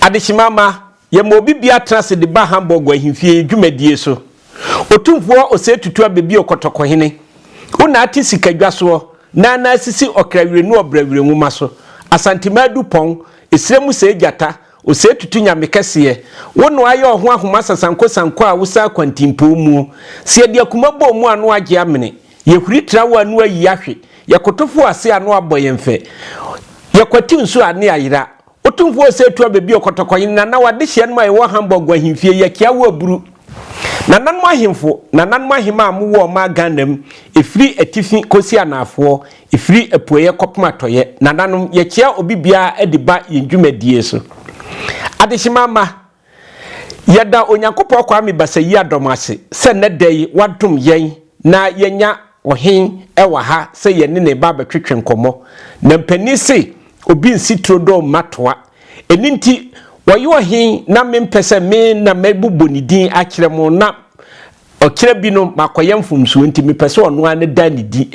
Adehyema mma, yɛma obi bia tena ase de ba Hamburg ahemfie yi dwumadie so. Otumfoɔ Osei Tutu abɛbio Kɔtɔkɔhene. Wo na ate sika dwa soɔ, na na asisi ɔkra wirenu ɔbra wire nwoma so. Asantemaa du pɔn, esire mu sɛɛ gyata, Osei Tutu Nyame kɛseɛ. Wo na wayɛ ɔho ahoma sasanko sanko a wosa akwantimpoo muo. Sɛ yɛde akuma bɔ mu a na wagye amene. Yɛhuri trawa a ano ayi ahwe, yɛkoto fo ase a ano abɔ yɛn fɛ, yɛkwati nsu a ano ayera. Otumfo Osei Tuah bebue ɔkɔtɔkɔnhene Nananom adehyeɛ nom a ɛwɔ Hamburg Ahemfie, Yakiawo Aburu. Nananom ahemfo, Nananom ahemaa a mowɔ ɔmaa Ghana mu, ɛfiri atifi kɔsi anaafoɔ, ɛfiri apueɛ kɔpem atɔeɛ, Nananom, yɛkyea obi biara de ba yɛn dwumadie so. Adehyemaa mma, Yɛda Onyankopɔn Kwame Basayie-Adom ase sɛ nnɛ da yi wadom yɛn na yɛanya Ɔhene wɔ ha sɛ yɛne no reba abɛtwetwe nkɔmmɔ. Na mpanin se obi nsi turo dɔ mma toa. Ɛno nti, wɔyɛ Ɔhene na mempɛ sɛ me na mɛbobɔ ne din akyerɛ mo na ɔkyerɛ bi no makɔyɛ mfomsoɔ nti mepɛ sɛ ɔno ara ne da ne din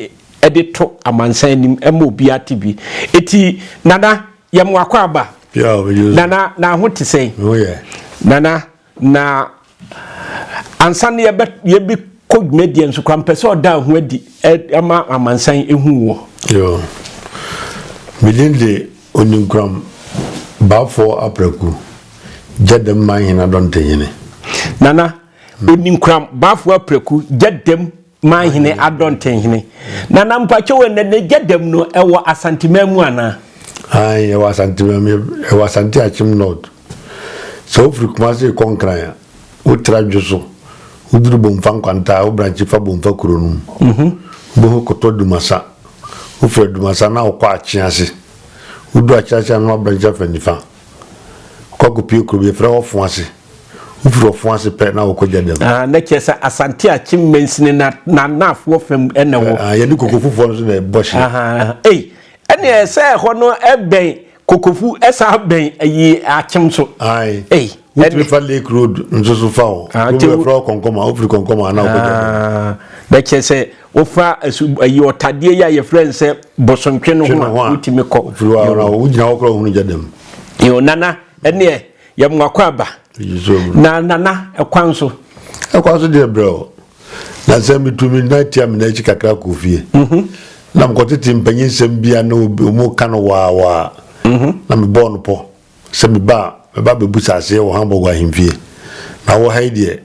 de to amansan anim ma obiara te bi. Enti Nana, yɛ mo akwaaba nana na aho te sɛn nana na ansa no yɛbɛ yɛbi kɔ dwumadie nso kora mpɛ sɛ ɔda ho adi ɛma amansan ehu wɔ. yoo medin de oninkuram baafoɔ aprɛku gya dɛm man hena dɔntehene. nana oninkuram baafoɔ aprɛku gya dɛm Manhene Adɔnten hene. Na na mpakyɛ wɔ na n'agya dam no ɛwɔ Asanteman mu anaa? Ayi ɛwɔ Asanteman mu ɛwɔ Asante Akyem North. Sɛ wofiri Kumase kɔ Nkran a wotra dwo so woduru Bomfa Nkwanta a wo branche fa Bomfa kuro no mu. Mhm. Wobɛhu kɔtɔ Adumasa. Wofiri Adumasa na wokɔ Akyease. Wodu Akyease a na wabranche afa nifa. Kɔko pie kurom yɛfrɛ hɔ ɔfo ase. Wofiri ɔfo ase pɛ na wokɔ gya dam. Ah, na kyerɛ sɛ Asante Akyem mansini na n'anaafoɔ fam ɛna wɔ. Ah, yɛne kokofufoɔ no so na ɛbɔ hye. Aha, ei, ɛne ɛsɛ ɛhɔ no ɛbɛn kokofu ɛsa bɛn ayi Akyem so. Ae, ei, wotumi fa Lake Road nso so fa hɔ. Ah, kyɛ wo. Wofiri kɔnkɔma, wofiri kɔnkɔma na wokɔ gya dam. Ah, na kyerɛ sɛ Wofa asu ɛyi ɔtadeɛ yi a yɛfrɛ no sɛ bosontwe no ho a wotumi kɔ. Wogyina hɔ koraa ohunu gya dam. Yo nana ɛneɛ yɛ mo akɔ aba. Na nana ɛkwan so. Ɛkwan so deɛ brɛ o. Na sɛ metumi na tia me n'akyi kakra kɔ fie. Mhm. Na mekɔtete mpanyinsɛm bi a na wɔn ka no waawaa. Mhm. Na mebɔɔ no pɔ. Sɛ meba a, mɛba abɛbu saseɛ wɔ Hamburg ahemfie. Na wɔ ha yi deɛ,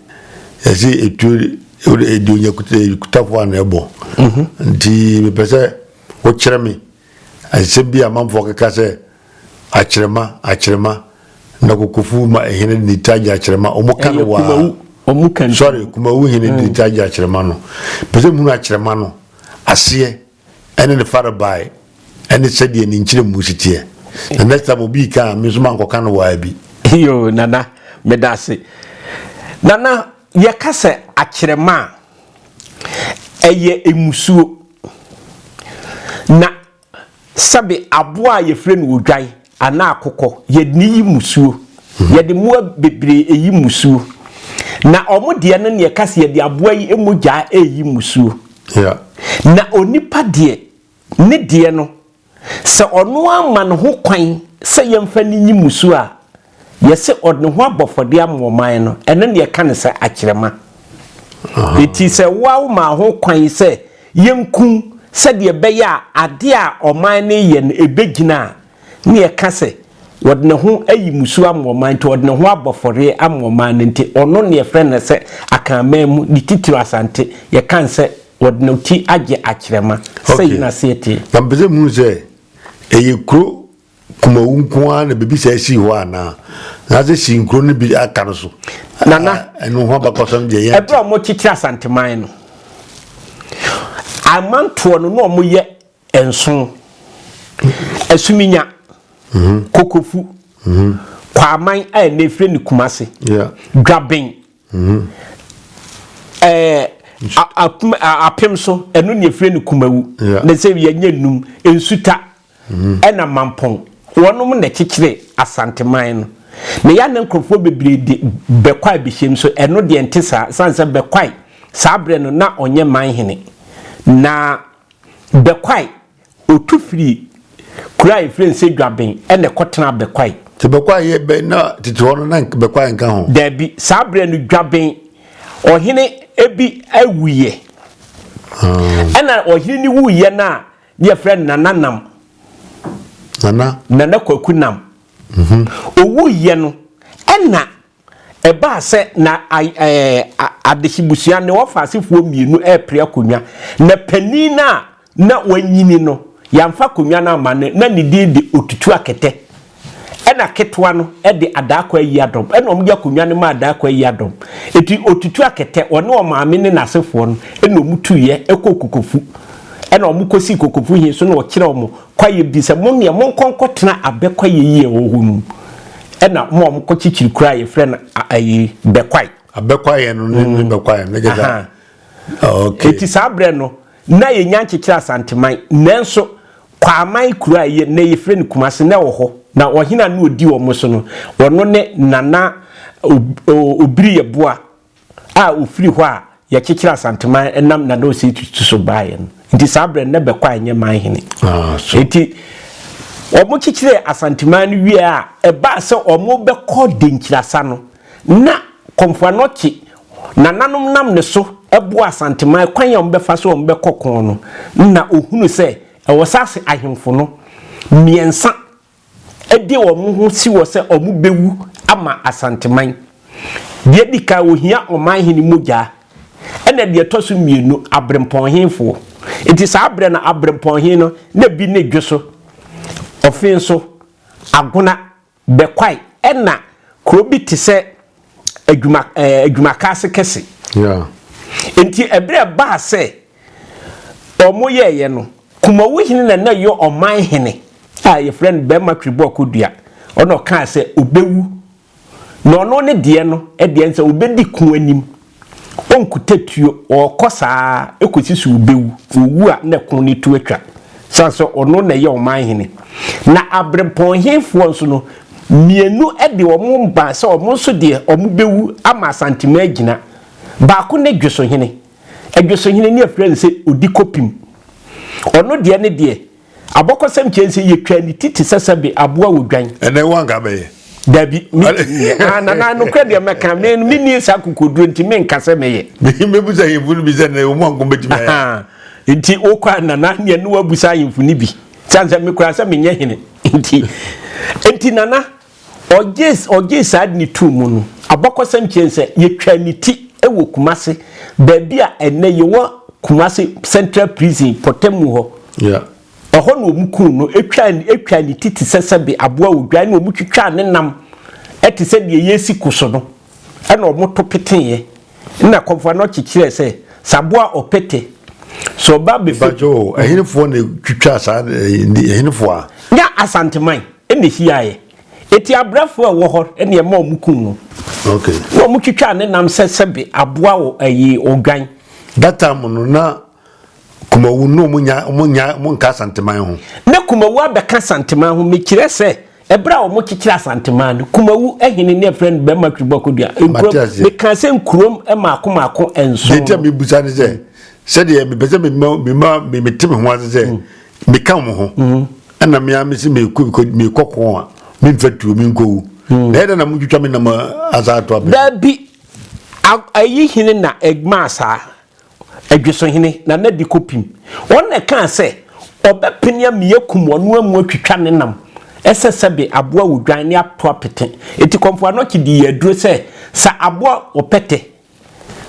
yɛse etuo deɛ onya kutafoɔ a na ɛbɔ. Mhm. Nti mepɛ sɛ wokyerɛ me nsɛm bi a amanfoɔ keka sɛ akyerɛma akyerɛma na kokofu ma hene de ne ti agye akyerɛma. Wɔn ka no waa. Wɔn ka no. Sɔre kumawu hene de ne ti agye akyerɛma no. Pɛ sɛ mehunu akyerɛma no aseɛ. ɛne ne farebae ɛne sɛdeɛ ne nkyerɛmu si teɛ na next time obi reka a me nso mankɔka no waa bi yo nana meda ase nana yɛka sɛ akyerɛma a ɛyɛ emusuo na sɛbe aboa a yɛfrɛ no odwan anaa akokɔ, yɛdne yi mmusuo. Yɛde mmoa bebree ɛyi mmusuo. Na ɔmo deɛ no neɛ ɛka sɛ yɛde aboa yi mogyaa ɛɛyi mmusuo. Na onipa deɛ ne deɛ no, sɛ ɔno ara ma ne ho kwan sɛ yɛmfa no nyi mmusuo a, yɛse ɔdne ho abɔ fɔdeɛ ama ɔman no, ɛno neɛ ɛka no sɛ akyerɛma. Enti sɛ wo ara womaa ho kwan sɛ Yɛnku sɛdeɛ ɛbɛyɛ a adeɛ a ɔman no reyɛ no ɛbɛgyina a na yɛka sɛ ɔde ne ho ayi mmusuo ama ɔman nti, ɔde ne ho abɔ afɔreɛ ama ɔman no nti, ɔno na yɛfrɛ no sɛ Akanman mu, ne titire Asante, yɛka no sɛ ɔde ne ti agye akyerɛma. Sɛi na aseɛ teɛ. Okay, na mepɛ sɛ muhu sɛ ɛyɛ kuro Kumawu nko ara na biribi saa sii hɔ anaa anaasɛ sii nkuro no bi aka no so nana ɛno ho abakɔsɛm deɛ yɛn ɛberɛ a wɔkyekyere asanteman no amantoɔ no na wɔyɛ nso asuminya mhm. kokofu mhm. kwaman a ɛna efiri ne kumase dwaben mhm. ɛɛ apem so ɛno na efiri ne kumawu na sɛ yɛnyɛ num nsuta. Ɛna Mampong wɔnom na ɛkyekyeree Asanteman no. Na yɛa na nkorɔfoɔ bebree de Bɛkwae bɛhyɛm so ɛno deɛ nte saa ɛsiane sɛ Bɛkwae saa berɛ no na ɔnyɛ manhene. Na Bɛkwae ɔtu firii kuro a yɛfrɛ no sɛ Dwaben ɛna ɛkɔtenaa Bɛkwae. Sɛ Bɛkwae yɛ bɛn na tete hɔ no na Bɛkwae nka ho? Daabi, saa berɛ no Dwaben ɔhene bi wuiɛ. Ɛna ɔhene no wuiɛ no a Ne yɛfrɛ no Nana Nam. Nana. Nana Kwaku Nam. Mhm. Owu yɛ no ɛna ɛbaa sɛ na adehyebusua ne wɔfa asefoɔ mmienu ɛrepere akonnwa na panin no a na wanyini no yɛamfa akonnwa no ama no na ne din de Otutu Akɛtɛ. Ɛna ketewa no de Adaako ayi adɔm, ɛna wɔde akonnwa no maa Adaako ayi adɔm. Enti ɔtutu akɛtɛ, ɔne ɔmaame ne n'asefoɔ no, ɛna wɔtuiɛ kɔɔ Kokofu. Ɛna wɔkɔsii Kokofu he so na ɔkyerɛɛ wɔn kwaeɛ bi sɛ, Mo ndeɛ, monkɔ nkɔtena abɛ kwaeɛ yi a ɛwɔ hɔ no mu. Ɛna wɔn a wɔkɔkyekyere kuro a yɛfrɛ no ayi Bɛkwae. Abɛ kwaeɛ no ne bɛkwaeɛ no, ne kyɛ saa. Enti saa berɛ no, Nna yenya nkyekyerɛ Asanteman, nanso Kwaaman kuro a ɛyɛ nnɛ yɛfrɛ no Kumase na ɛwɔ hɔ, na ɔhene a na ɔdi wɔn so no, ɔno ne Nana Obiriyɛboa a ɔfiri hɔ a yɛkyekyerɛ Asanteman ɛnam Nana Osei Tutu so baeɛ no. Nti saa berɛ no na Bɛkɔ a ɛnyɛ man hene. Nti wɔkyekyerɛɛ Asanteman no wieɛ a, ɛbaa sɛ wɔbɛkɔ Denkyirasa no, Ná Komfo-Anokye nananom nam ne so boa Asanteman kwan a wɔbɛfa so a wɔbɛkɔ ko no. Ná ɔhunu sɛ ɛwɔ sɛ ase ahemfo no mmiɛnsa de wɔn ho si hɔ sɛ wɔbɛwu ama Asanteman. Deɛ ɛdi kan, wɔhia ɔmanhene mogya, ɛnna deɛ ɛtɔ so mmienu, aberempɔnhefoɔ. Enti saa berɛ no, aberempɔnhe no, na bi ne Dwoso, Ɔfenso, Agona, Bɛkwae ɛna kuro bi te sɛ adwuma ɛɛ adwumakaase kɛse. Enti ɛberɛ a ɛbaa sɛ wɔyɛeɛ no, Kumawu hene na na ɛyɛ ɔman hene a wɔfrɛ no Bɛrima Tweboa Kodua, ɔna ɔkaa sɛ ɔbɛwu, na ɔno ne deɛ no deɛ no sɛ ɔbɛdi ko anim. Wɔnkuta tuo, wɔkɔ saa ara kɔsi sɛ wɔbɛwu. Wɔwu a, na ɛko no tu atwa, ɛsiane sɛ ɔno na ɛyɛ ɔman hene. Na abirɛmpɔn hefoɔ nso no, mmienu de wɔn mma sɛ wɔn nso deɛ wɔbɛwu ama Asanteman agyina. Baako ne Dwesohene. Dwesohene no yɛfrɛ no sɛ Odikɔpim. Ɔno deɛ ne deɛ, Abɔkɔsɛm kyerɛ sɛ yɛtwaa ne ti te sɛ sɛbe aboa odwan. Ɛnɛ wo anka bɛyɛ? Dabi, ah, nana nokorɛ deɛ mɛka me menni saa kokoduro nti menka sɛ mɛyɛ. Mɛbusa ahemfo no bi sɛ nɛ wɔn anko bɛtumi ayɛ. Nti wokɔ a nana neɛ ne wabusa ahemfo no bi sane sɛ mekora sɛ menyɛ hene nti nti nana Ɔgyee ɔgyee saa ade no too mu no, abakɔsɛm kyerɛ sɛ yɛtwaa ne ti wɔ Kumasi, baabi a ɛnnɛ yɛwɔ Kumasi Central Prison pɔtam mu hɔ. Ɛhɔ na wɔkum no, twaa twaa ne ti te sɛ sɛbe aboa odwan na wɔtwitwaa ne nam te sɛ deɛ yɛresi ko so no. ɛna wɔto peteeɛ na kɔmfoɔ no kyekyerɛ sɛ saboa ɔpete sɛ ɔba bɛfɛ. ìbàjẹ́ o ɛhinifoɔ na twitwa saa ɛhinifoɔ a. nya asanteman ɛna ehiaeɛ eti abrɛfoɔ ɛwɔ hɔ ɛna ɛma wɔn kum no. ok na wɔn twitwa ne nam sɛ sɛbi aboa wɔ ɛyi odwan. that time no na Kumawu no ɔmo nya ɔmo nya ɔmo nka Asanteman ho. Na Kumawu abɛka Asanteman ho mekyerɛ sɛ ɛberɛ a ɔmo kyekyere Asanteman no Kumawu ɛhene ne ɛfrɛ no Bɛrima Twiri Bɔkɔ Dua nkurom mekaa sɛ nkurom mako mako nson. Deɛ ntia mebusa ne sɛ sɛdeɛ mepɛ sɛ mema mema mete me ho ase sɛ meka ɔmo ho ɛna mea mese mekɔ mekɔ ko a memfa tuo menkɔwu na ɛdɛ na motwitwa me nam asaa to abɛ. Daabi ayi hene na ɛmaa saa. Adwesohene Nana Diko Pim, ɔn na ɛkaa sɛ ɔbɛpene ami akum ɔno amu atwitwa ne nam, ɛsɛ sɛbe aboa odwan ne ato apete. Eti Kɔmfo Anɔkye dii aduro sɛ sɛ aboa ɔpɛtɛ,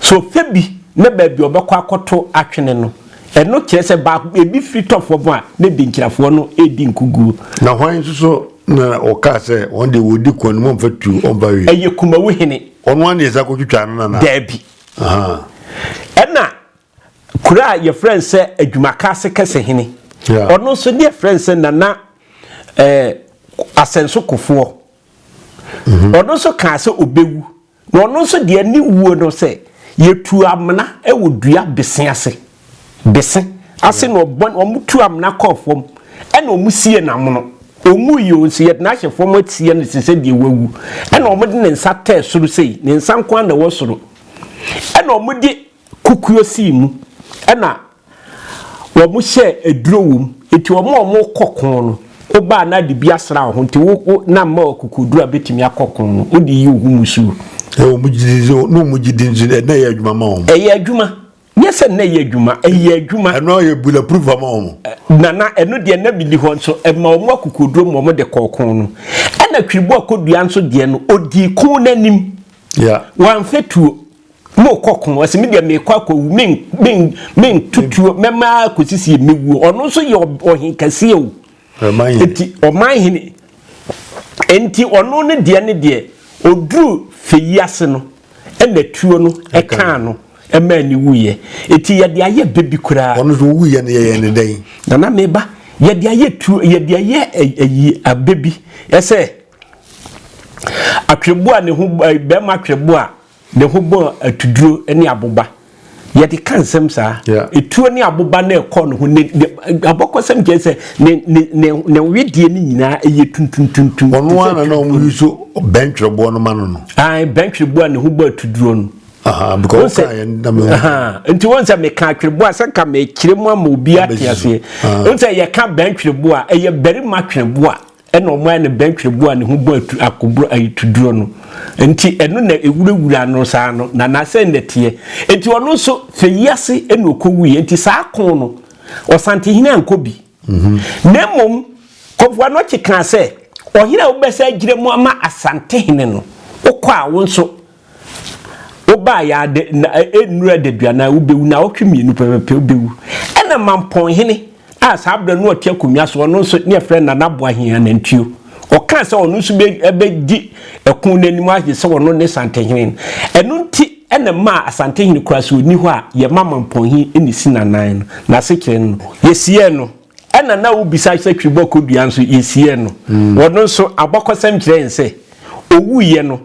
sɛ ɔfɛ bi na baabi a ɔbɛkɔ akɔto atwene no, ɛno kyerɛ sɛ baako, ebi firi tɔ fam a, na Denkyirafoɔ no redi nkuguo. Na hwan nso so na ɔkaa sɛ wɔn deɛ wɔdi kɔn no mu ɔmfa tuo ɔmfa hwee? Ɛyɛ Kumawuhene. Ɔno ara na yɛsan kɔtwitwaa no nana? Daabi. Ɛna kuro a yɛfrɛ no sɛ Adwumakaase Kɛsehene, ɔno nso ne yɛfrɛ no sɛ Nana eh, Asɛnso Kofoɔ. Mhm. Ɔno nso kaa sɛ ɔbɛwu. Na ɔno nso deɛ ne wuo no sɛ yɛtu amena wɔ dua bese ase. de se ase na ɔbɔ wɔn tu amena kɔɔ fam ɛna wɔn sie n'amono ɔnwu yi o nso yɛde n'ahyɛ fam atie no te sɛ deɛ wawu ɛna wɔn de ne nsa tɛɛ soro sei ne nsa nko na ɛwɔ soro ɛna wɔn de kukuo sii mu ɛna wɔn hyɛ aduro wɔ mu eti wɔn a wɔn kɔ kɔn no wobaa na de bi asra wo ho nti wo wo na mma ɔkokoduro a bɛtumi akɔ ko no wode yi wo ho musuo ɛwɔ mu gyidi no mu gyidi nti ɛna ɛyɛ adwuma ma wɔn ɛyɛ adwuma Nyɛ sɛ na ɛyɛ adwuma, ɛyɛ adwuma. Ɛno ara yɛ bula proof ama wɔn. Nana, ɛno deɛ na mini hɔ nso, ɛma wɔn akokoduro ma wɔn de kɔɔ kɔn no. Ɛna twiribu akodua nso deɛ no, ɔdii kɔn no anim. Yeah. Wɔamfɛ tuo. Mo kɔ kɔn, ɔsi mi deɛ mi kɔ akɔ wu, mi mi mi ntutuo, mɛma akosisi mi wuo. Ɔno nso yɛ ɔhen kɛseɛ o. Ɔman hene. Eti ɔman hene. Enti ɔno ne deɛ ne deɛ, oduru fɛ yi ase no. Ɛna tuo no kaa no maa ne wuiɛ. Enti yɛde ayɛ bɛ bi koraa. Ɔno so ɔwuiɛ no yɛyɛ ne dɛn? Nana meba. Yɛde ayɛ tuo, yɛde ayɛ ayi abɛ bi. Ɛsɛ atwerɛboɔ a ne ho, bɛrima atwerɛboɔ a ne ho bɔ atuduro ne aboba. yɛde ka nsɛm saa etuo ne aboba na ɛkɔ ne ho ne abɔkɔsɛm kyerɛ sɛ ne ne ne ne wedeɛ ne nyinaa ɛyɛ tuntuntuntum. ɔno ara na wɔn yi so bɛntwerɛboɔ no ma no no. ayi bɛntwerɛboɔ a ne ho bɔ atuduro no. because ɔka yɛn dam yɛn. nti wɔn sɛ meka atwerɛboɔ a sɛ nka mekyerɛ mu ama obi ate aseɛ wɔn sɛ yɛka bɛntwerɛboɔ a ɛyɛ barima twerɛboɔ a. ɛna ɔmo ayɛ no bɛntwerɛboɔ a ne ho bɔ atu akoboro ayitoduro no nti ɛno na ewurawura no saa no na n'asɛn na ɛteɛ nti ɔno nso fɛ yi ase ɛna ɔkɔ wuiɛ nti saa ko no ɔsantehene ankɔ bi mhm. na mmom kɔfoa no ɔkye kaa sɛ ɔhene a wobɛsɛ agyina mu ama asantehene no wokɔ a wo nso Wobaa yɛ a dɛ na ɛnnuru adaduanan a wobɛwu, naawɔtwe mmienu pɛpɛpɛ wobɛwu. Ɛna Mampɔnhene a saa berɛ no ɔte akonnwa so, ɔno nso ne yɛfrɛ no Nana Boahen Anantwio, ɔkaa sɛ ɔno nso bɛdi ɛko no anim agye sɛ ɔno ne Santehene no. Ɛno nti na ɛmaa Asantehene koraa sɛ ɔnni hɔ a, yɛma Mampɔnhene na ɛsi n'anan no, n'asekyerɛ no. Yɛsiee no. Ɛna na wobisa sɛ Twiribɔkɔ Dua nso, yɛsiee no. Ɔno nso, abakɔsɛm kyerɛ yɛn sɛ ɔwuiɛ no,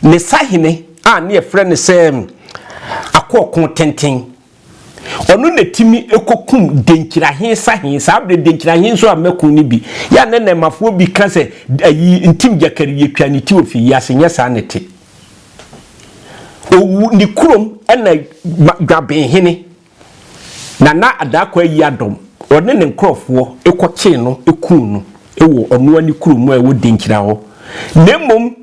Ne sahene a ne yɛfrɛ no sɛ Akoɔko Tenten. Ɔno na ɛtumi kɔkum Denkyirahe sahene. Saa berɛ Denkyirahe nso amma kun no bi. Yɛ a na Nɛmafoɔ bi ka sɛ ayi Ntim Gyakari yɛtwa ne ti ɔfiri yi ase. Nyɛ saa na ɛte. Ɔwu ne kurom na Dwabenhene. Nana Daakwa ayi adɔm, ɔne ne nkorɔfoɔ kɔkyee no kuu no wɔ ɔnoa ne kuro mu a ɛwɔ Denkyira hɔ. Na mmom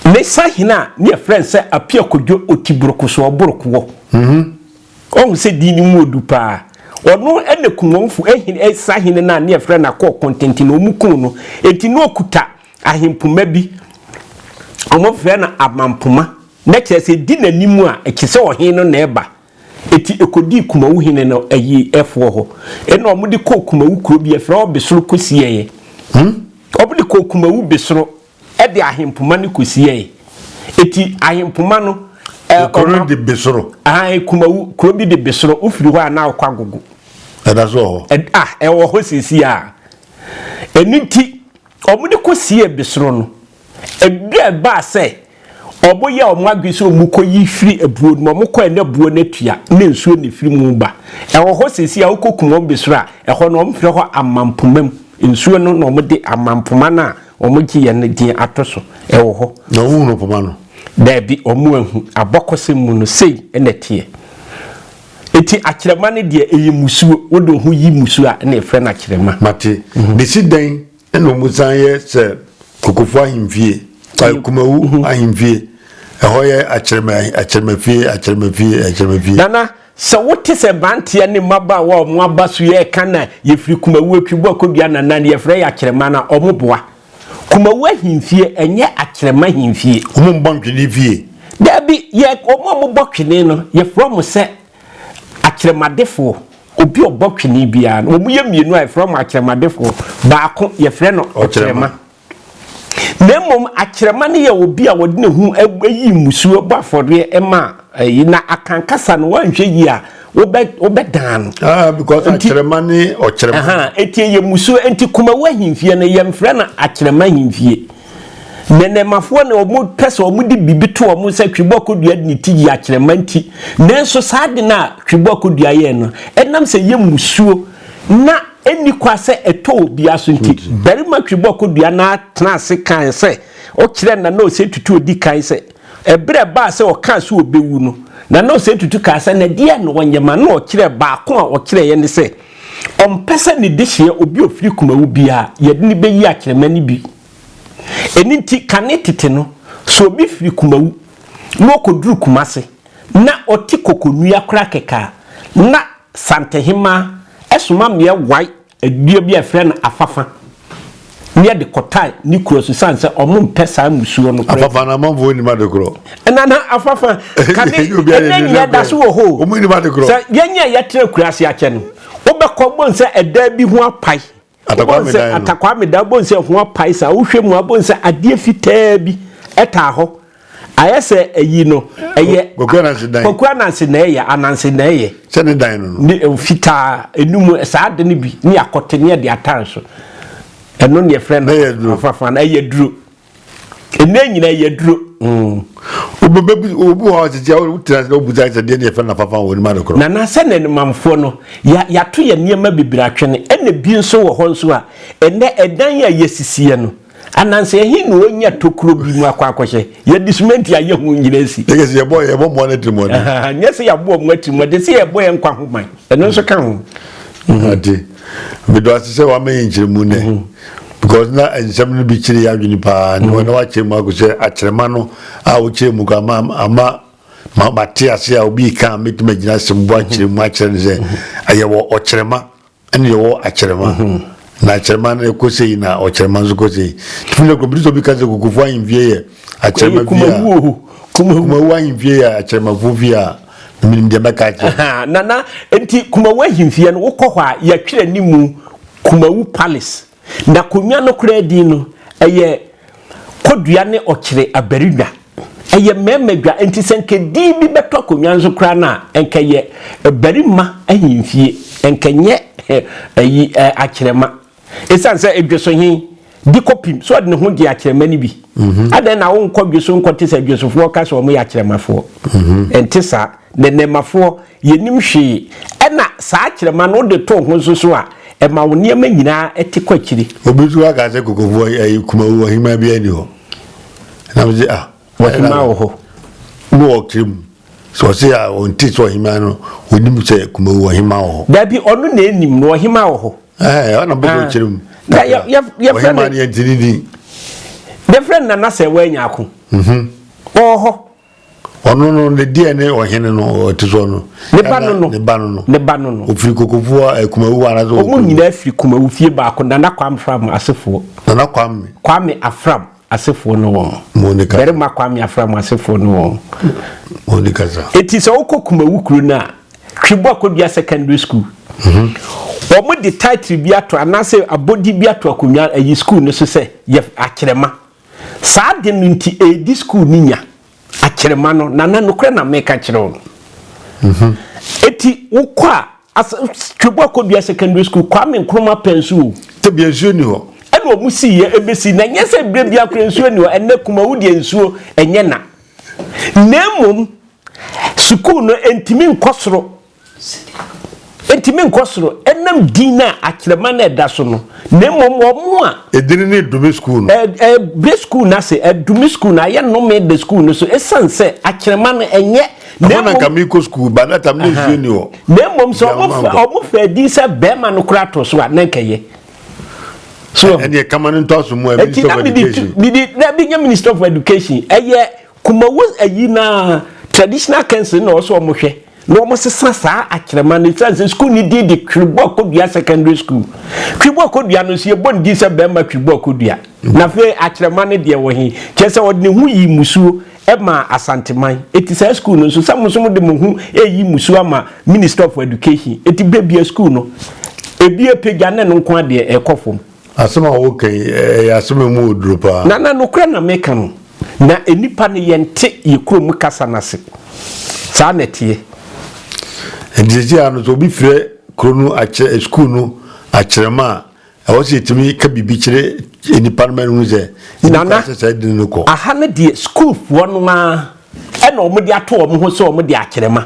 ne sahene a ne yɛfrɛ no sɛ Apia Kodwo Otiborokosoɔ Borokoɔ, wahu sɛ din no mu ɔdu pa ara, ɔno na Kumwomfo sahene no a ne yɛfrɛ no Akɔɔ Kɔntɛnti no, wɔkuu no. Enti na ɔkuta Ahempoma bi, wɔfrɛ no Amampoma, na kyerɛ sɛ di n'anim a, ɛkyerɛ sɛ ɔhene no na ɛreba. Enti ɛkɔdii Kumawu hene no ayi ɛfoɔ hɔ. Ɛna wɔde kɔɔ Kumawu kuro bi ɛfrɛ hɔ Besoro kɔsiɛeɛ. Hmm? Wɔde kɔɔ Kumawu Besoro ɛde ahempoma no kɔsiɛeɛ. Enti ahempoma no ɛ, Kuro ɔma- de Besoro. Ahan, Kumawu, kuro bi de Besoro, wofiri hɔ a na wokɔ Agogo. Ɛda so wɔ hɔ. Ɛd- ah, ɛwɔ hɔ seesei a. Ɛno nti, Wɔde kosiee besoro no, ɛduruu a ɛbaa sɛ wɔyɛɛ wɔn adwene sɛ wɔkɔyi firi abuo no mu. Wɔkɔɛ na abuo no atua na nsuo na ɛfiri mu ba. Ɛwɔ hɔ seesei a wokɔkum wɔn besoro a, ɛhɔ no wɔfrɛ hɔ Amampoma mu. Nsuo no na wɔde Amampoma no a wɔgyeeɛ no din ato so. Ɛwɔ hɔ. Na wɔhunu poma no? Daabi, wɔanhu. Abakɔsɛm mu no, sei na ɛteɛ. Eti akyerɛma no deɛ, ɛyɛ mmusuo. Wode wo ho yi mmusuo a, ɛna yɛfrɛ no akyerɛma. Mate. Bɛsi dɛn na wɔsan yɛ sɛ Kokofo ahemfie, Kumawu ahemfie, ɛhɔ yɛ akyerɛma, akyerɛmafie, akyerɛmafie, akyerɛmafie? Nana, sɛ wote sɛ mmeranteɛ ne mmabaawa a wɔaba so yɛ ɛka na yɛfiri Kumawu atwi bɔ akɔdua Nana no, yɛfrɛ yɛ akyerɛma no a, wɔboa. Kumawu ahemfie, ɛnyɛ Akyerɛma ahemfie. Wɔn mmɔ ntwene fie. Daabi, yɛ, wɔn a wɔbɔ twene no, yɛfrɛ wɔn sɛ akyerɛmadefoɔ. Obi a ɔbɔ twene biara no, wɔn yɛ mmienu a yɛfrɛ wɔn akyerɛmadefoɔ. Baako, yɛfrɛ no ɔkyerɛma. Na mmom, akyerɛma no yɛ obi a wɔde ne ho yi mmusuo bɔ afɔreɛ ma ayi, na akan kasa no, woanhwɛ yie a, wobɛ wobɛ dan no. ah because akyerɛma ne ɔkyerɛma. ɛhan eti yɛ musuo eti kumawu ahemfie no yɛn fɛ na akyerɛma ahemfie nɛnɛmafoɔ na wɔn pɛ sɛ wɔn de biribi to wɔn sɛ twebɔ akodua de ne ti yi akyerɛma nti nanso saa de no a twebɔ akodua yɛn no ɛnam sɛ yɛ musuo na ɛnni kwa sɛ ɛtɔ obia so nti barima twebɔ akodua na atena ase kan sɛ ɔkyerɛ na na ɔsɛ tutu odi kan sɛ Bere a ɛbaa sɛ ɔkaa sɛ obewu no, Nana Osei Tutu kaa sɛ, Na deɛn na ɔnyɛ ma na ɔkyerɛɛ? Baako a ɔkyerɛeɛ ne sɛ, ɔmpɛ sɛ ne dehyeɛ, obi a ɔfiri Kumawu biara, yɛde no bɛyi akyerɛma no bi. Ɛno nti, kane tete no, sɛ obi firi Kumawu na ɔkɔduru Kumase na ɔte Kokonua koraa kɛkɛ a, na Santehemaa soma mmea wae Dua bi a yɛfrɛ no afafa ne yɛde kɔtae ne kuro so sane sɛ ɔmo mpɛ saa mmusuo no korɛ. Afafa no amanfoɔ nnim ade korɔ. Ɛna na afafa kane ɛnɛ nyinaa da so wɔ hɔ o. Ɔmo nnim ade korɔ. Sɛ yɛn a yɛtra kuraase akyɛ no wobɛkɔ wobɛhu sɛ ɛdan bi ho apae. Atakwame dan no. Atakwame dan wobɛhu sɛ ɛho apae saa wohwɛ mu a wobɛhu sɛ adeɛ fitaa bi ɛtaa hɔ. ayɛ sɛ ayi no ɛyɛ kɔkɔ anansi dan kɔkɔ anansi na ɛyɛ anansi na ɛyɛ sɛ ne dan no no ne eh, fitaa enum eh, saa de no bi ne akɔte ne ɛde atan so ɛno ne ɛfrɛ no afafa na ɛyɛ duro ɛnɛ nyina ɛyɛ duro. Mm. obi wɔ hɔ tete a wotena ase na wobusa sɛ deɛ deɛ fɛ na fafa wɔ anim adekorɔ. nana sɛ na animamfoɔ no yɛato yɛ nneɛma bebree atwene ɛna bi nso wɔ hɔ nso a ɛnɛ ɛdan a yɛsisiɛ no Ananse he na onya tokuro bi mu akɔ akɔhyɛ. Yɛde simenti ayɛ ho nnyina asi. Yɛkɛ sɛ yɛbɔ yɛbɔ mmoa no atirimuɔden. Nyɛ sɛ yɛabɔ ɔmo atirimuɔden, sɛ yɛbɔ yɛn nkwa ho ban. Ɛno nso ka ho. Ade. Medɔ ase sɛ wama yɛn nkyerɛmu nɛ. Because na nsɛm no bi kyere yɛn adwene paa. Na wɔn a wɔakyerɛ mu akɔ sɛ akyerɛma no a wokyerɛ mu kɔ ama ama ma mate ase a obi ka a metumi agyina asɛm bu akyerɛ mu akyerɛ no sɛ ɛyɛ wɔ ɔkyerɛma. ɛne yɛwɔ akyerɛma na akyerɛma no ɛkɔ sei na ɔkyerɛma nso kɔ sei tumi na kɔmputu sɛ obi ka sɛ kokofo ahemfie yɛ akyerɛma fie a kumawu ahemfie yɛ akyerɛmafo fie a menim deɛ mɛka akyerɛ nana nti kumawu ahemfie no wokɔ hɔ a yɛtwerɛ ne mu kumawu palace Na konnwa no koraa din no, ɛyɛ Kodua ne Ɔkyere Abarinwa. Ɛyɛ mmarima dwa, enti sɛ anka din bi bɛtɔ akonnwa no so koraa no a, anka ɛyɛ Barima Ahemfie, anka ɛnyɛ ayi, Akyerɛma. Esiane sɛ Dwesohe di kɔpim sɛ ɔde ne ho gye Akyerɛma no bi. Mhm. Adɛn na wonkɔ Dweso nkɔte sɛ Dwesofoɔ ka sɛ wɔyɛ Akyerɛmafoɔ? Mhm. Ɛnte saa. Nnɛnnɛmafoɔ Yɛnnim hwee. Ɛnna saa kyerɛma no, wode to wo ho nso so a, ɛma wo nneɛma nyinaa te kɔ akyiri. Obi nso aka sɛ kokofoɔ yi, ayi Kumawu ɔhemaa biara nni hɔ. Na me se, ah. Ɔhemaa wɔ hɔ. Na ɔkyerɛ mu. Sɛ ɔse a, ɔnte sɛ ɔhemaa no, ɔnim sɛ Kumawu ɔhemaa wɔ hɔ. Dabi, ɔno na ɛnim no, ɔhemaa wɔ hɔ. Ɛɛ, ɔna bɛbɛ ɔkyerɛ mu. Na yɛ, yɛ, yɛ fɛ no. Ɔhemaa no yɛnti ne din. Yɛ fɛ no Nana Sɛwɛ Nyarko. Mhm. Ɔwɔ hɔ. Ɔno no, ne deɛ ne ɔhene no, ɔte soɔ no. Ne ba no no. Ne ba no no. Ne ba no no. Ɔfiri kokofoɔ eh, kumawu hɔ anaasɛ Wɔn nyinaa firi kumawu fie baako Nana Kwame Afram asefoɔ. Nana Kwame. Kwame Afram asefoɔ no wɔn. Monica. Barima Kwame Afram asefoɔ no wɔn. Monica sa. Eti sɛ wokɔ kumawu kuro no a, Twebo Akodua Secondary School. Mhm. Wɔn de title bi ato anaasɛ abɔdi bi ato akonnwa ayi school no so sɛ yɛ akyerɛma. Saa ade no nti, ɛredi sukuu no nya akyerema no, Nana, nokorɛ na meka kyerɛ wo no. Enti wokɔ a, asa, Twebu Akodua Secondary School, Kwame Nkrumah pɛn so o. Tebea nsuo nni hɔ. Ɛna ɔmo siiɛ ɛbɛsi nnɛ. Nyɛ sɛ berɛ biara koraa nsuo nni hɔ. Ɛnnɛ Kumawu deɛ nsuo ɛnyɛ na. Na mmom, sukuu no ɛntumi nkɔ soro Enti menkɔ soro ɛnam din no a akyerɛma no ɛda so no, na mmom wɔn a. Edin no redome sukuu no. Ɛbrɛ sukuu no ase, ɛdome sukuu no, ayɛ nnome da sukuu no so, esiane sɛ akyerɛma no ɛnyɛ. Ɛhɔ na nka merekɔ sukuu, but na tam na nsuo nni hɔ. Na mmom sɛ wɔfa edin sɛ barima no koraa to so a, na nka ɛyɛ. So ɛne ɛkama no ntɔ aso mu a, Minister of Education. Ɛti na mede na menya Minister of Education ɛyɛ. Kumawu ayi no ara, traditional council no na ɔwɔ sɛ wɔhwɛ na wɔsesa saa akyerɛma no ɛsiane sɛ sukuu no din de Twiriboakodua Secondary School. Twiriboakodua no nso yɛbɔ ne din sɛ Barima Twiriboakodua. Na afei akyerɛma no deɛ wɔ he? Kyerɛ sɛ ɔde ne ho yii mmusuo maa Asanteman. Enti saa sukuu no nso, sɛ mo nso mode mo ho reyi mmusuo ama Ministry of Education, enti bebue sukuu no. Ebi apagya ne no nko ara deɛ ɛrekɔ fam. Asɛm a woreka yi, ɛyɛ asɛm a emu wɔ duru paa. Nana, nokorɛ na meka no. Na nnipa no, yɛnte yɛn kurom kasa no ase. Saa na ɛteɛ. Enti seesei ara no, sɛ obi frɛ kuro no akyerɛ, sukuu no akyerɛma a, ɛwɔ sɛ yɛtumi ka biribi kyerɛ nnipa no ma no hu sɛ yɛdi Nana, kwan sɛ saa edini no kɔ. aha no deɛ, sukuufoɔ no ara na wɔde ato wɔn ho sɛ wɔde akyerɛma.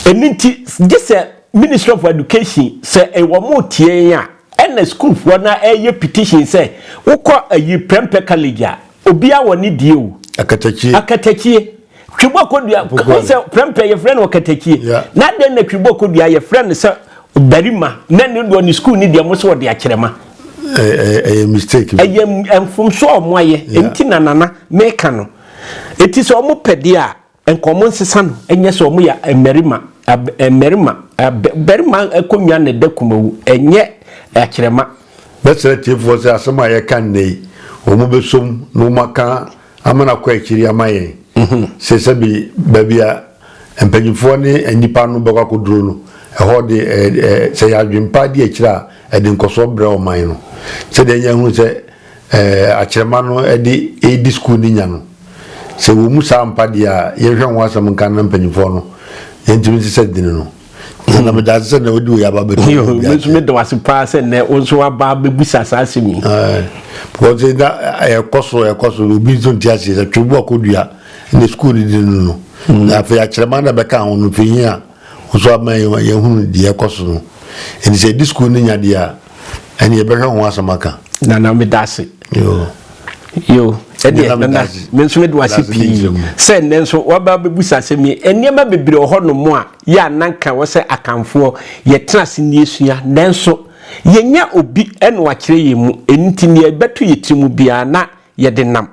Ɛno nti gyesɛ Ministry of Education sɛ wɔretie yɛn a ɛna sukuufoɔ no ara reyɛ petition sɛ wokɔ ayi Prempeh College a obiara wɔ ne deɛ o. Akatakyie. Akatakyie. Twebɔ Kodua, wohu sɛ Prempeh yɛfrɛ no Akatakyie. Na adɛn na Twebɔ Kodua yɛfrɛ no sɛ barima na ne deɛ ɔne sukuu ne deɛ mo sɛ ɔde akyerɛma. Ɛyɛ mistake. Ɛyɛ mfomsoɔ a wɔayɛ. Ɛnti na nana meka no. Ɛti sɛ wɔpɛ deɛ a Nka wɔn nsesa no nyɛ sɛ wɔn yɛ mmarima, mmarima, barima akonnwa na ɛda kumawu, ɛnyɛ akyerɛma. Mɛsrɛ atiefoɔ sɛ asɛm a yɛka nnɛ yi, wɔn bɛsɔ mu na wɔn aka ama no akɔ akyiri ama yɛn. Mhm. Sɛ sɛbi baabi a mpanyinfoɔ ne nnipa no bɛkɔ akɔduro no, ɛhɔ de ɛɛ sɛ yɛn adwene pa di akyire a, ɛde nkɔsoɔ brɛ ɔman no. Sɛdeɛ yɛn ahunu sɛ. ɛɛ akyerɛma no de redi sukuu no nya no. Sɛ wɔmu saa ampa deɛ a, yɛnhwɛ ho asɛm nka na mpanyimfoɔ no yɛntumi nsesa din no. na meda ase sɛ nnɛ wode wei aba bɛto yo me nso meda wase paa sɛ nnɛ wo nso waba bɛbusa saa asɛm yi because na ɛkɔ so ɛkɔ so obi nso nti aseɛ sɛ twere bu akɔdua ne sukuu no di no no na afei akyerɛma na bɛka ho no fii a Wo so ama yɛahunu deɛ ɛkɔ so no. Enti sɛ yɛde sukuu no nya deɛ a, ɛne yɛbɛhwɛ ho asɛm aka. Nana meda ase. Yo. Yo. Ɛdeɛ nana meda ase. Me nso mede wase pii. Sɛ nnɛ nso waba bɛbusa asɛm yi. Nneɛma bebree wɔ hɔnom a yɛ a na nka wɔ sɛ Akanfoɔ yɛtena ase na yɛsua. Nanso yɛnya obi na wakyerɛ yɛn mu. Ɛno nti deɛ ɛbɛto yɛn tirim biara na yɛde nam.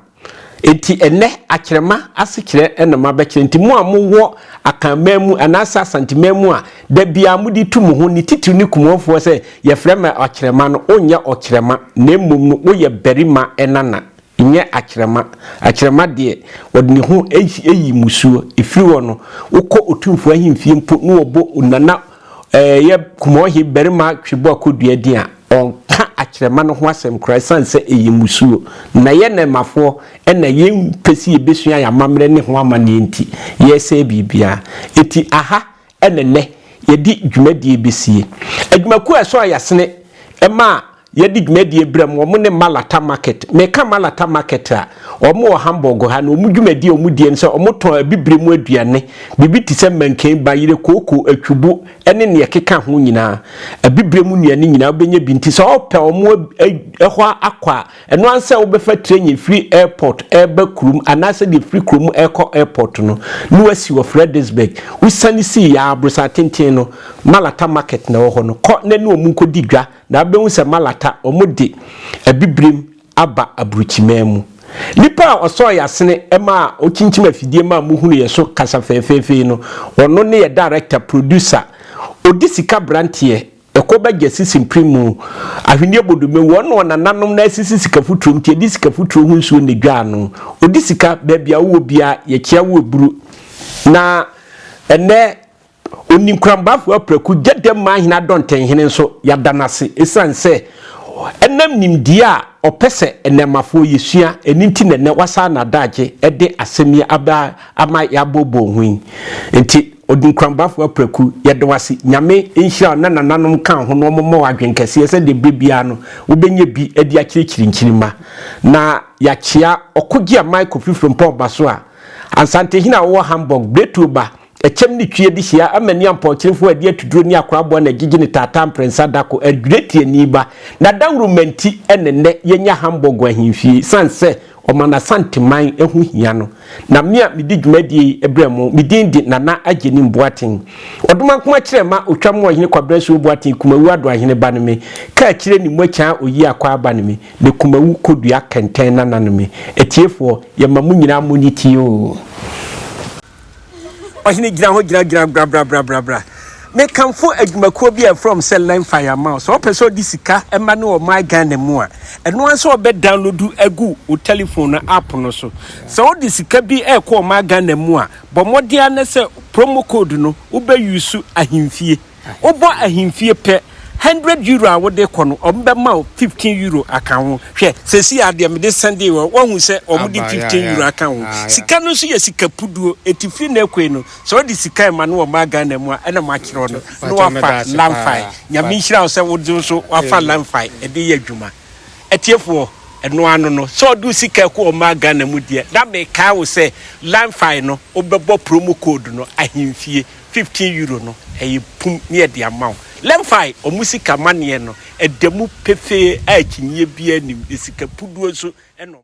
Enti ɛnnɛ, akyerɛma ase kyerɛ na mabɛkyerɛ. Enti mo a mowɔ Akanman mu anaasɛ Asanteman mu a da biara mode tu mo ho, ne titiriw ne Kumuafoɔ sɛ yɛfrɛ me ɔkyerɛma no, wonyɛ ɔkyerɛma, na mmom no woyɛ barima nana, nyɛ akyerɛma. Akyerɛma deɛ, ɔde ne ho yi mmusuo. Ɛfiri hɔ no, wokɔ Otumfoɔ ahemfie mpo na wɔbɔ Onana Ɛɛ yɛ Kumɔɔhi barima twe bɔ kɔ dua din a, ɔnka akyerɛma no ho asɛm koraa ɛsiane sɛ ɛyɛ mmusuo. Na yɛ Nɛɛmafoɔ na yɛ mpɛ sɛ yɛbɛsua yɛ amammerɛ ne ho amanneɛ nti, yɛresɛe biribiara. Ɛti aha na nnɛ yɛde dwumadie bɛsie. Adwumakuo a ɛsɔ ayasene ma Yɛdi dwumadie berɛm wɔn ne Malata market. Meka Malata market a, wɔn wɔ Hamburg ha no wɔn dwumadie a wɔn die ne sɛ wɔn tɔn abibire mu aduane, biribi te sɛ mankani, bayerɛ, kooko, atwubo ne neɛ ɛkeka ho nyinaa. Abibire mu nnuane nyinaa wobɛnya bi nti sɛ wɔpɛ wɔn hɔ akɔ a, ɛno ara ne sɛ wobɛfa train ɛfiri airport ɛreba kurom anaa sɛ deɛ ɛfiri kurom ɛrekɔ airport no ne wasi wɔ Fredericksburg. Wosiane si yɛ a, aborosan tenten no Malata market na ɛwɔ hɔ no, kɔ na ne wɔn nkɔdi dwa. Na wobɛhu sɛ malata, wɔde abibirim aba aburukyimaa mu. Nipa a ɔsɔɔ yɛn asene ma a ɔkyinkyim afidie ma a mohunu yɛn so kasa fɛɛfɛɛfɛ yi no, ɔno ne yɛn director, producer, ɔdi sika branteɛ, ɛkɔ ba gya sisi mprim mu, ahweneɛ bɔ dome mu, ɔnoa nananom na asisi sika futuro nti ɛde sika futuro ho nsuo na ɛdwaa no. Ɔdi sika, baabi a wowɔ biara, yɛkyea wo aburu. Na ɛnnɛ. Onni nkorambafo apraku gye dɛ mma ahen adɔntɛnhen nso yɛada no ase esiane sɛ ɛnam nimdeɛ a ɔpɛ sɛ nnɛɛmmafoɔ yɛsua ɛno nti na ɛnnɛ wasaa no adagye de asɛm yi aba ama yɛabooboo ho yi nti Onni nkorambafo apraku yɛda wo ase Nyame nhyira wo na nananom ka ho na wɔmmɔ wo adwene kɛseɛ sɛdeɛ berɛ biara no wobɛnya bi de akyerɛkyerɛ nkyirimma na yɛakyea Ɔkogye Michael firi Frimpong Basoa Asantehene a wɔwɔ Hamburg Berɛtuo ba Ɛkyɛm ne twia de hyia ama ni ampɔnkyenefo a ɛde atuduro ne akoraboa na agyigye ne taataa mprensa da ko adwira tiani ba. N'adawuruma nti na nnɛ yɛnya Hamburg ahemfie esiane sɛ ɔma n'Asanteman ho hia no. Na me a medi dwumadie yi brɛ mo, me din de Nana Agyenim Boateng. Ɔdomankoma Kyerɛma Otwam Ɔhene Kwabena Asuo Boateng Kumawu Adoahene ba ne me, Kaakyire ne Muakyɛa Oyi Akwaa ba ne me, ne Kumawu Kodua Kɛntɛn Nana ne me. Atiefoɔ, yɛma mo nyinaa monyi ti oo. Ɔhene gyina hɔ gyina gyina bra bra bra bra bra. Mekamfo adwumakuo bi a ɛfrɛ wɔn sɛ Learn Fire ma wo. Sɛ ɔpɛ sɛ ɔde sika ma no wɔ My Ghana mu a, ɛno ara sɛ ɔbɛ download agu wo telephone no app no so. Sɛ wode sika bi ɛrekɔ wɔ My Ghana mu a, bɔ mmɔden ara na sɛ promo code no wobɛ use ahemfie. Wobɔ ahemfie pɛ, hundred euro a wode kɔ no, wɔbɛma wo fifteen euro aka ho. Hwɛ, seesei ara deɛ mede sɛndee wɔn, woahu sɛ wɔde fifteen euro aka ho. Sika no nso yɛ sika puduo, enti firi nnɛ rekɔ yi no, sɛ wode sika rema no wɔ mmaa Ghana mu a, ɛna moakyerɛ wo no, na woafa Lamfae. Nyame nhyira wo sɛ wo nso woafa Lamfae de reyɛ adwuma. Atiefoɔ, ɛno ara no no, sɛ wode wo sika rekɔ wɔ mmaa Ghana mu deɛ, na mekae wo sɛ Lamfae no, wobɛbɔ promo code no, ahemfie. fifteen euro no ɛyɛ pum ne yɛde ama wo lɛnfae ɔmo sika maneɛ no ɛda mu pefee a akyinyɛ biara nnim na sika puduo nso ɛna ɔmo